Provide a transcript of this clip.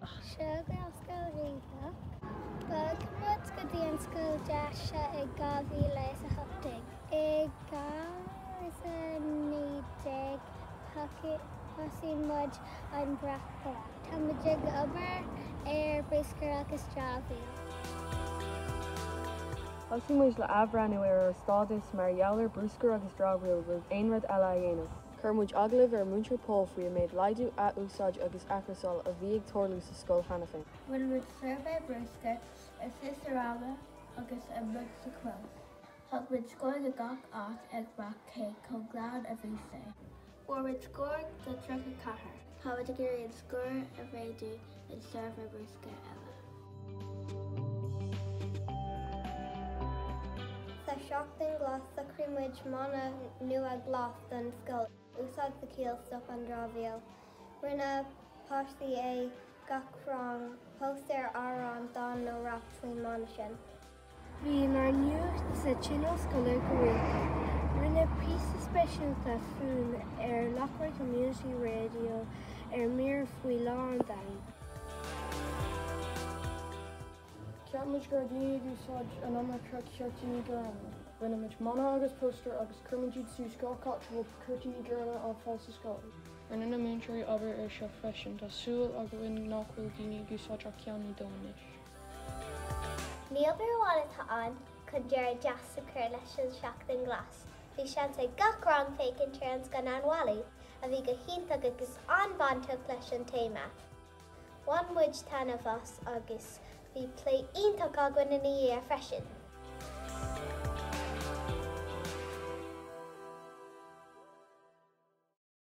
Seo go dtí Scoil Riabhach. Bhog muid go dtí an scoil deas seo i 2018. I 2019 thosaigh muid an brat glas. Tá muid ag obair ar bruscar agus dramhaíl. Thosaigh muid le athbhreathnú ar ár stádas mar gheall ar bruscar agus dramhaíl roimh aon rud eile a dhéanamh. Chuir muid agallamh ar Mhúinteoir Pól faoi an méid laghdú, ath-úsáid agus athchúrsáil a bhí ag tarlú sa scoil cheana féin. Rinne muid suirbhé brúscair istigh sa rang agus amuigh sa chlós. Thug muid scór do gach áit ag rá cé chomh glan a bhí sé. Fuair muid scór de 34. Tá muid ag iarraidh an scór a mhéadú. i suirbhé bruscair eile. Sa Seachtain Ghlas shocraigh muid mana nua glas don scoil, úsáid do chiall 'stop an dramhaíl'. Rinne páistí i gach rang póstaer, amhrán, dán nó rap faoin mana sin. Bhí ár nuacht sa Tionól Scoile go rialta. Rinneadh píosa speisialta fúinn ar Loughrea Community Radio ar Mír faoi Lá an Domhain. Cheap muid go raibh daoine ag úsáid an iomarca ciarsúir ghorma. Rinne muid mana agus póstaer agus chuir muid iad suas gach áit a bhfuil ciarsúir ghorma ar fáil sa scoil. Rinne na múinteoirí obair air seo freisin. Tá súil againn nach bhfuil daoine ag úsáid ach ceann nó dó anois. Ní obair amháin atá ann chun deireadh deas a chur leis an Seachtain Ghlas, bhí seans ag gach rang féachaint ar an scannán Wall-E, a bhí go hiontach agus an-bhainteach leis an téama. Bhain muid taitneamh as agus bhí plé iontach againn ina dhiaidh freisin!